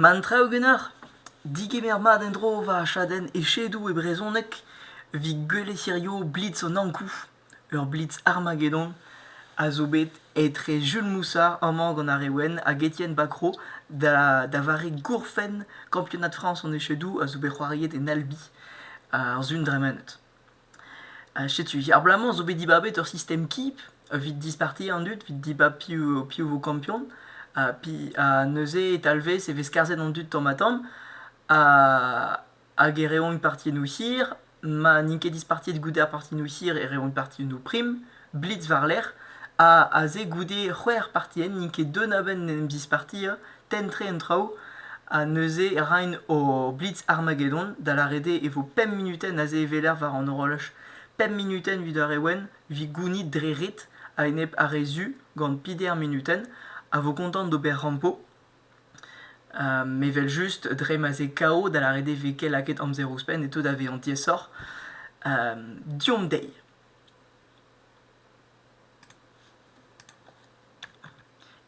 Ma an traoù ganeoc'h, digemer mat en-dro va chadenn echedoù e brezhoneg evit gwellet hirio blitz an Ankou, ur blitz Armageddon, a zo bet etre Jules Moussard amañ gant ar re wenn hag Étienne Bacrot da vare gourfenn kampionad Frañs an echedoù a zo bet c'hoariet en Albi, ar Sun dremenet. Ha setu, abalamour zo bet dibabet ur sistem kip evit disparti an dud, evit dibab piv, piv vo kampion. Ha, ha neuze e talvez e vez skarzhet an dud tamm-ha-tamm. Hag e reont partioù hir. Ma n'int ket dispartiet goude ar partioù hir e reont partioù prim. blitz war-lerc'h ha aze goude c'hwec'h partienn n'int ket deun a-benn en em zispartiañ tenn-tre an traoù ha neuze raint o blitz Armageddon da lâret eo e vo pemp munutenn aze e-weler war an horolaj pemp munutenn evit ar re wenn evit gounit dre ret a-enep ar re zu gant Peter Minutenn a vo kontant d'ober rampo me vel just dre ma ze KO da lâret eo vez ket lakaet amzer ouzhpenn e teu da vezañ diaesoc'h deomp dezhi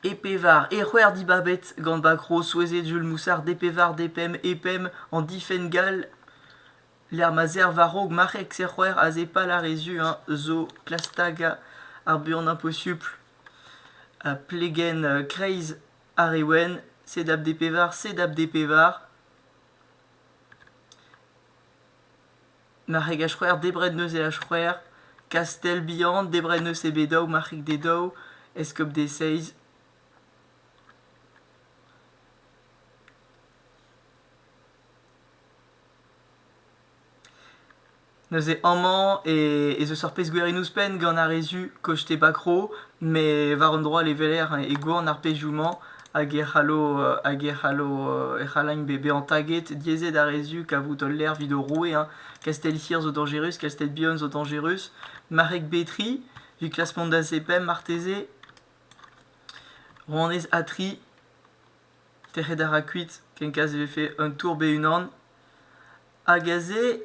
E pevar ec'hwer dibabet gant bakro souezhet Jul Moussard e pevar depemp e pemp an difenn gall lec'h ma serr war-raok marc'heg sec'hwer aze pal ar re zu-eñ zo klastaga ar buan imposupl ha plegenn kreiz ar re wenn sedap d pevar sedap d pevar Marc'heg ha c'hwec'h, debret neuze ha c'hwec'h, kastell bihan, debret neuze be daou, marc'hig d'e daou, eskob d'e seizh. Neuze amañ ez eus ur pezh gwirion ouzhpenn gant ar re zu, koch-te bakro, met war un dro all e weler e gouarn ar pezhioù-mañ. hag e c'hallo hag e c'hallo e c'hallagn bezañ taget diaezet ar re zu kavout ul lec'h evit o roue hein. Kastell hir zo dañjerus, Kastell bihan zo dañjerus, marc'heg Betri, evit klask mont da zepemp marteze, rouanez Atri, tec'het a ra kuit, kenkaz e vefe un tour be-unan, hag aze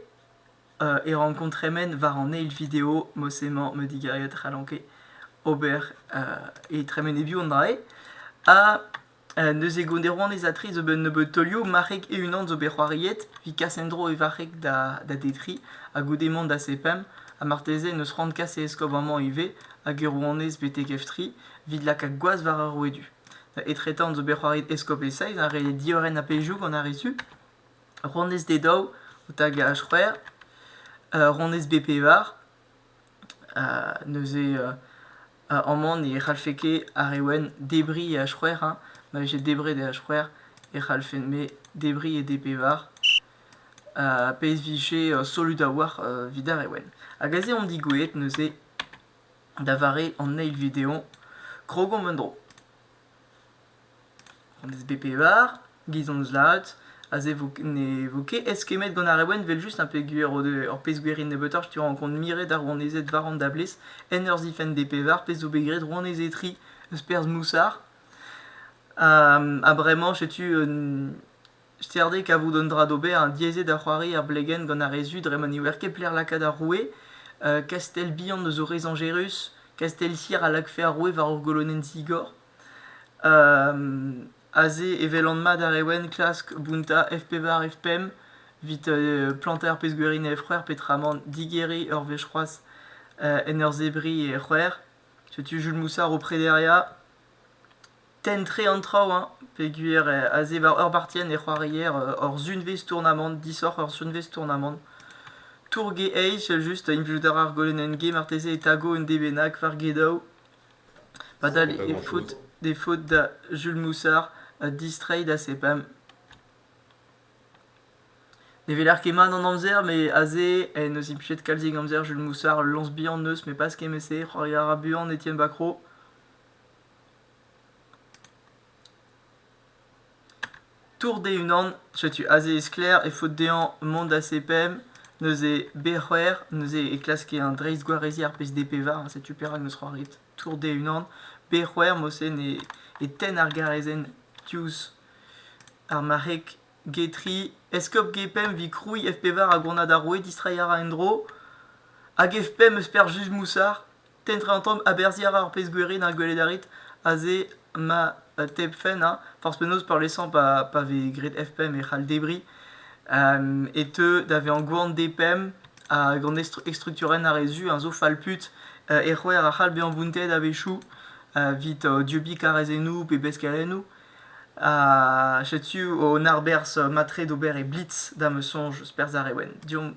e rankomp tremen war an eil video, mod-se emañ me digarget c'hallanke ober e tremen e-biou an dra-se. Ha neuze gont e rouanezatri zo bet nebeud teulioù, marc'heg e-unan zo bet c'hoariet, evit kas en-dro e varc'heg da detriñ, ha goude mont da sepemp, ha marteze n'eus c'hoant kas e eskob amañ ivez, hag e rouanez betek Eftri, evit lakaat gwaz war ar rouedu. Etretant zo bet c'hoariet Eskob e Seiz, ha re diorren ha peilhoù gant ar re zu. Ronez D daou, otaga c'hwec'h, ronez B pevar. neuze amañ ne c'hallfe ket ar re wenn debriñ e h-c'hwec'h hein. Ma vije debret e h-c'hwec'h e c'hallfen-me debriñ e D pevar. pezh 'vije solut a-walc'h evit ar re wenn. Hag aze on digoueet neuze da vare an eil video. Krog omp en-dro. An SBPR, giz hon zad, aze vo, ne vo ket eskemmet gant ar Rewen evel-just un pezh gwir o deu ur pezh gwir int nebeutoc'h tu rankont miret ar rouanezed war an dablez en ur zifenn DPR pezh zo bet graet rouanezetri eus perzh Moussard. Ha bremañ setu un Sterd eo kavout un dra d'ober, hein, diaes eo da c'hoari er blegenn gant ar re zu dre ma ne ouer ket pelec'h lakaat ar roue. Uh, kastell bihan eus o re zañjerus, kastell Sir a lakfe ar roue war ur golonenn zigor. aze e welan mat ar ewen klask bountañ F-pevar, F-pemp evit plantañ ar pezh gwerin e F-c'hwec'h peotramant digeriñ ur wech c'hoazh en ur zebriñ e C'hwec'h. Setu Jules Moussard o prederiañ. tenn-tre an traoù hein, peogwir aze war ur bartienn e c'hoarier hor sunvezh tournamant, disoc'h hor sunvezh tournamant. Tour Gay Age, just implij a ra ar golenenn gay marteze e tago un dé bennak war gedaou. Padal e faot e faot da Jules Moussard distreiñ da sepemp. Ne weler ket mat an amzer met aze en deus implijet kalzik amzer Jules Moussard lañs bihan 'neus met pas kement-se, c'hoari a ra buan Etienne Bacro. Tourt e-unan, setu aze e sklaer e faot dezhañ mont da CPM neuze B-c'hwec'h, neuze e klaske un dreistgwarezier pezh D-pevar, setu perak n'eus c'hoaret tourt e-unan. B-c'hwec'h, morse ne e tenn ar garezenn diouzh ar marc'heg G3. Eskob G-pemp 'vit krouiñ F-pevar a gronad ar roue, distreiñ a ra en-dro. Hag F-pemp eus perzh Juge Moussard. Tentra an tamm aberziañ a ra ar pezh gwirion ar gweled a rit aze ma euh, tebfenn hein, forzh penaos peurliesañ pa, pa vez graet F-pemp e c'hall debriñ euh, e teu da vezañ gwan D-pemp ha gant estrukturenn ar re zu hein, zo falput euh, e c'hwec'h a c'hall bezañ bountet a-wechoù evit dieubiñ karrezennoù pe beskelennoù. Ha setu un arberzh mat-tre d'ober e Blitz, da ma soñj, perzh ar Rewen. Deomp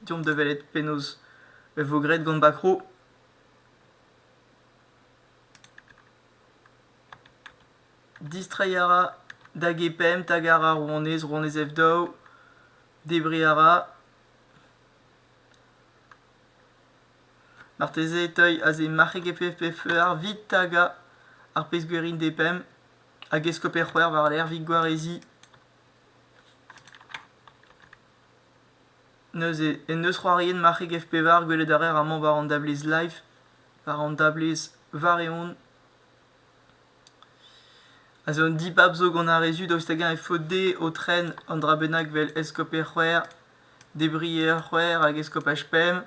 deomp da welet penaos e vo graet gant Bakro. Distreiñ a ra da G5, tagar ar rouanez, rouanez F2. Debriñ a ra. Marteze e teuy aze marc'heg FFFER vit taga ar pezh-gwerin D5 hag eskoper c'hwer war-lerc'h vit gwareziñ. Neuze en deus c'hoariet marc'heg F-pevar gwelet a raer amañ war an dablez Live, war an dablez Vareon. Ha zo un dibab zo gant ar re zu daoust hag-eñ e faot dezhe o tren un dra bennak vel eskoper c'hwec'h, debrier c'hwec'h hag eskopaj pemp,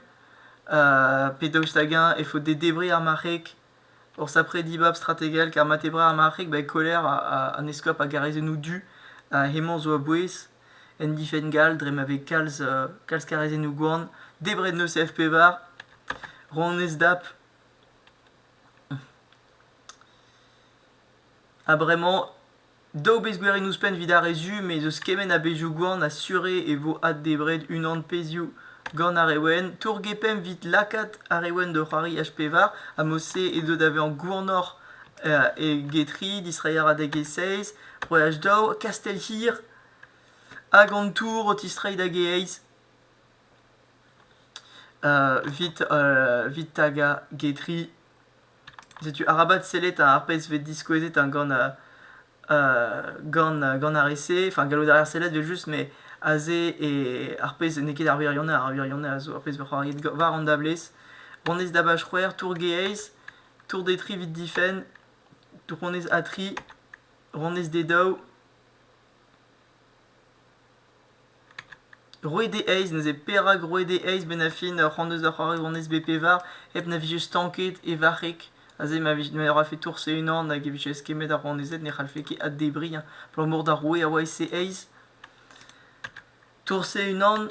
pe daoust hag-eñ e faot dezhe debriñ ar marc'heg. Ors après dibab strategel kar mat eo brav ar marc'heg, ba e koler an eskob a gare senoù du, hemañ zo a-bouez. en difenn gall dre ma vez kalz, kalz karezennoù-gwan, debret n'eus F-pevar, ronez dap. Ha bremañ, daou bezh gwerin ouzhpenn evit ar re zu, me eus kement a bezhioù-gwan a sure e vo addebret unan pezhioù gant ar re wenn. Tour-gepemp 'vit lakaat ar re wenn da c'hoari H-pevar, ha mod-se edo da vezañ gwanoc'h eget tri, distreiañ a-raok e seizh, c'hwec'h daou Kastell-hir hag an tour o tistreiñ da Gaez evit evit tagañ Getri. Setu arabat sellet ar pezh vez diskouezet gant gant gant ar re-se. Enfin, gallout a reer sellet evel-just, mais aze e ar pezh n'eo ket ar wirionez, ar wirionez a zo ar pezh ec'h eus war an dablez. Honnezh dabach c'hwec'h, tour Gaez, tour Detri evit difenn, Dronez A tri, Ronez D daou, Roue D eizh, neuze perak Roue D eizh benn a fin ur c'hoant eus da c'hoari Ronez B pevar hep na vije stanket e varc'heg aze ma vije ma rafe tourse unan hag e vije eskemmet ar ronezed ne c'hallfe ket addebriñ hein. abalamour d'ar roue a oa e C eizh tourse unan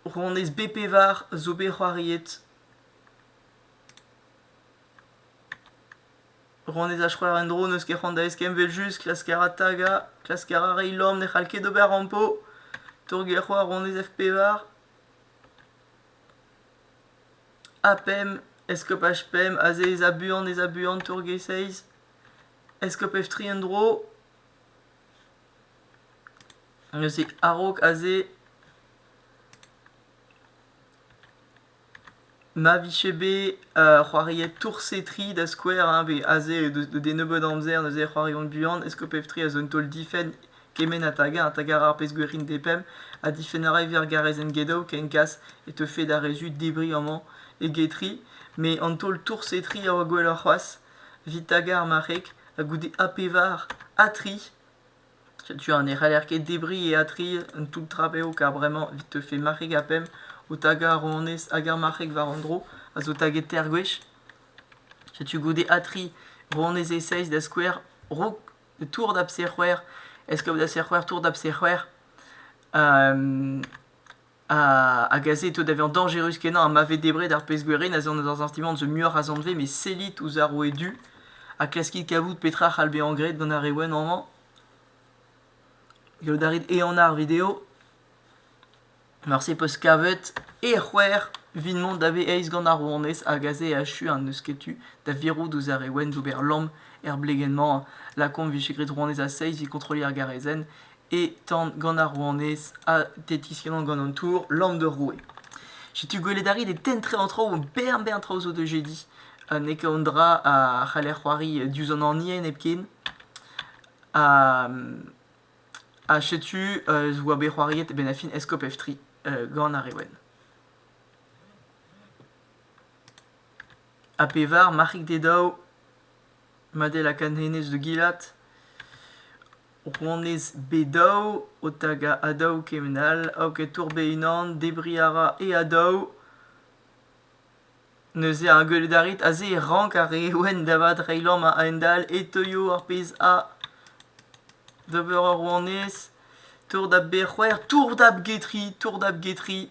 ronez B pevar zo bet c'hoariet Rannet a c'hoar en-dro n'eus ket c'hoant da eskemm evel-just klask a ra tagañ, klask a ra reiñ lorc'h ne c'hall ket ober rampo, torget a c'hoar rannet F-pevar A pemp, eskopaj pemp, aze ez a buan ez a buan torge seizh, eskob F-tri en-dro. Neuze a-raok aze. Ma vije bet c'hoariet tourse-tri da skouer hein, pe aze deus deus den nebeud amzer neuze c'hoariomp buan, est-ce que pep tri a zo un taol difenn kement ha tagar, ha tagar ar pezh gwir int dezhe pemp, ha difenn a ra ivez ar garazenn get-out ken kas e teufe d'ar re zud debriñ amañ eget tri, met an taol tourse-tri a oa gwelloc'h c'hoazh, evit tagar ma c'heg, ha goude ha pevar, ha tri. Setu ha ne c'haller ket debriñ eatriet un toull trapev kar bremañ evit teufe marc'heg ha pemp o tagañ ar ronez hag ar marc'heg war an dro a zo taget teir gwech. Setu goude atriñ ronez e-seizh da skouer raok tour da bser c'hwec'h, eskob da ser c'hwec'h, tour da bser c'hwec'h. hag aze e teu da vezañ dañjerus-kenañ ha ma vez debret ar pezh-gwere neuze on dans un sentiment de mieux rassembler mais sellit ouzh ar roue du ha klaskit kavout petra c'hall bezañ graet gant ar re wenn amañ gallout a rit ehanañ ar video morse 'peus kavet e c'hwec'h vin-mont da vez aes gant ar rouanez hag aze e achu ha n'eus ket tu da virout ouzh ar re wenn d'ober lamm er blegenn-mañ lakaomp 'vije graet rouanez a seiz 'vit kontrolliñ ar garezenn e tan gant ar rouanez ha tetikennant gant an tour Lamm d'ur roue. Setu gwelet a rit e tentre an traoù, bern bern traoù zo de jedi. Ha n'eo ket an dra a c'haller c'hoari diouzh an anien hepken. Ha, ha setu euh, zo oa bet c'hoariet e benn fin Escope F3 euh, gant ar re wenn. Ha pevar, marc'hig d'e daou, Madel hag an hennezh de Gilat. Rouanez Bedaou o tagañ Adaou kement all hag e tourbe unan debriñ a ra e Adaou. Neuze ar gwelet a rit aze e rank ar re wenn da vat reiñ lamm a-hend-all e teuio ar pezh a d'ober ur rouanez. Tour da Bec'hwer, tour da bGetri, tour da bGetri.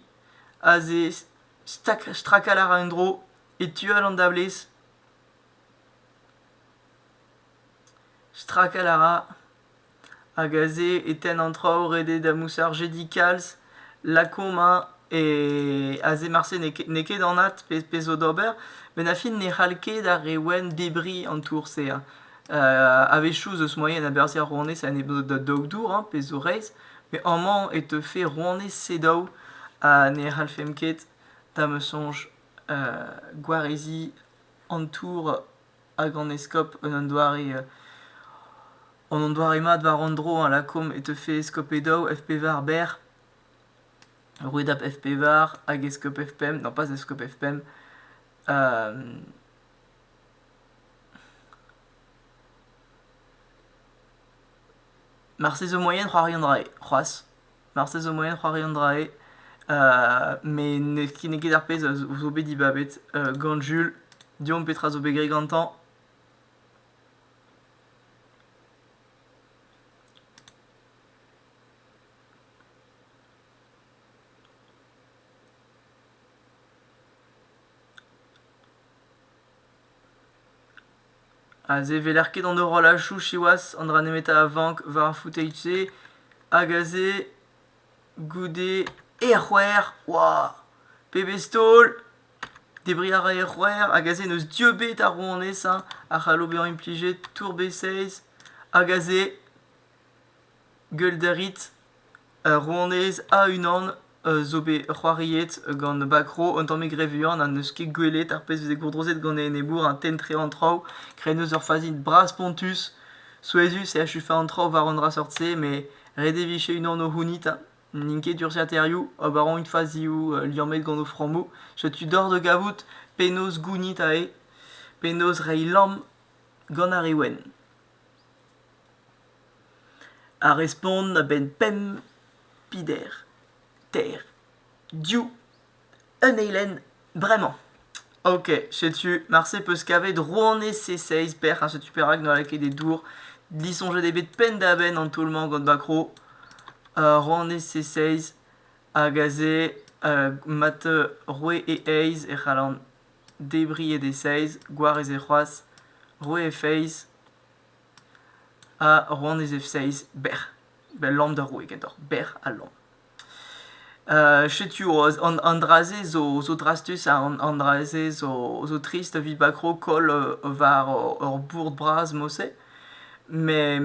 Aze stak- strakal a ra un dro e tu all an dablez. Strakal a ra hag aze e tenn an traoù ret eo da mousarjed dit kalz lakaomp hein e aze marse n'eo ket n'eo ket anat pezh pezh zo d'ober met ar fin ne c'hall ket ar re wenn debriñ an tour-se hein a-wechoù ez eus moaien a-berzh er rouanez ha n'eo ket da daou dour hein pezh zo reizh met amañ e teufe rouanez sedaou ha ne c'hallfemp ket da ma soñj gwareziñ an tour hag an eskob eus an doare en un doare mat war an dro a lakaomp e teufe eskob Edaou FP-Var berr rouedad FP-Var hag eskob F5 non pas eskob F5 marteze moaien c'hoarian 'ray c'hoazh Marteze zo moyen c'hoari an dra-se. Uh, met n'eo ket ar pezh a zo bet dibabet uh, gant Jul. Deomp petra zo bet graet gantañ. Aze e weler ket an horolachoù siwazh, an dra nemetañ a vank war ar footage-se hag aze goude er c'hwec'h waouh! pebezh taol! Debriñ a ra er c'hwec'h hag aze n'eus dieubiñ ar rouanez hein, a c'hallo bezañ implijet tour B16 hag aze gueule da rit Ur rouanez a-unan zo bet c'hoariet gant Bakro un tammig re vuan ha n'eus ket gwelet ar pezh 'veze gourdrozet gant e enebour un tenn-tre an traoù graet eus ur fazi bras-spontus, souezhus e achufe an traoù war un dra seurt-se met ret e vije unan o c'hounit ha n'int ket urzhiataerioù ober int fazioù liammet gant o frammoù. Setu deoc'h da gavout penaos gounit aze, penaos reiñ lamm gant ar re wenn. Ar respont a-benn pemp pider ter div un eilenn bremañ. Ok, setu, marse peus kavet rouanez C6 bec'h, ha setu perak n'oa ket e dour disoñjet eo bet penn-da-benn an taol-mañ gant Bakro. Uh rouanez C6 hag aze uh mat roue e aez e c'hallan debriñ e dez-eizh, gwarez e c'hoazh, roet e feiz ha rouanez e feiz bec'h. Bel lamm da roue ganeoc'h, bec'h ha lamm. setu an, an dra-se zo, zo drastus, ha an, an dra-se zo, zo trist evit bakro koll war ur bourd bras Mose. Met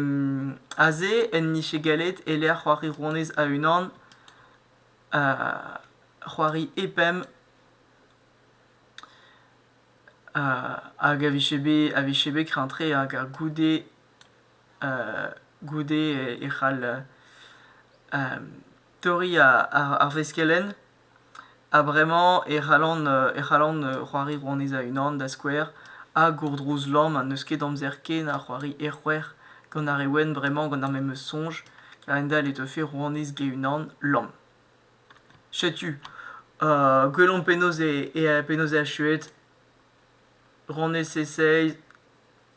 aze en dije gallet e-lec'h c'hoari rouanez a-unan c'hoari e pemp Hag a vije bet a vije bet kreñtre hag goude goude e c'hall torriñ ar veskelenn ha bremañ e c'hallan e c'hallan c'hoari rouanez a-unan da skouer ha gourdrouz lamm ha n'eus ket amzer ken a c'hoari erc'hwec'h gant ar re wenn bremañ gant ar memes soñj a-hend-all e teufe rouanez ge-unan lamm. Setu gwelomp penaos eo penaos eo achuet rannyezh e-seiz,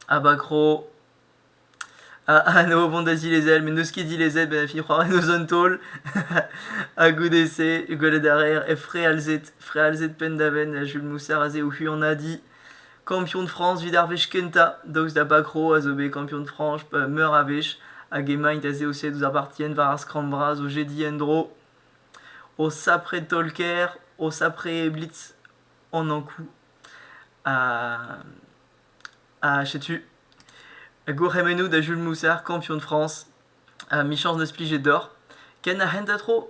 Abakro, anv vont da zilezel met n'eus ket dilezet ben fi c'hoari en eus un taol ha goude-se gwelet a raer he frealzed frealzed penn-da-benn Jules Moussard aze o huanadiñ. Kampion Frañs evit ar wech kentañ, daoust da Bakro a zo bet kampion Frañs meur a wech, hag emaint aze o sellout ouzh ar partien war ar skramm vras o jediñ en-dro, o sapre taol-kaer, o sapre blitz an Ankou. Ha, ha setu, gourc'hemennoù da Jules Moussard, kampion Frañs, ha michañs n'eus plijet deoc'h. Ken ar hent ha tro!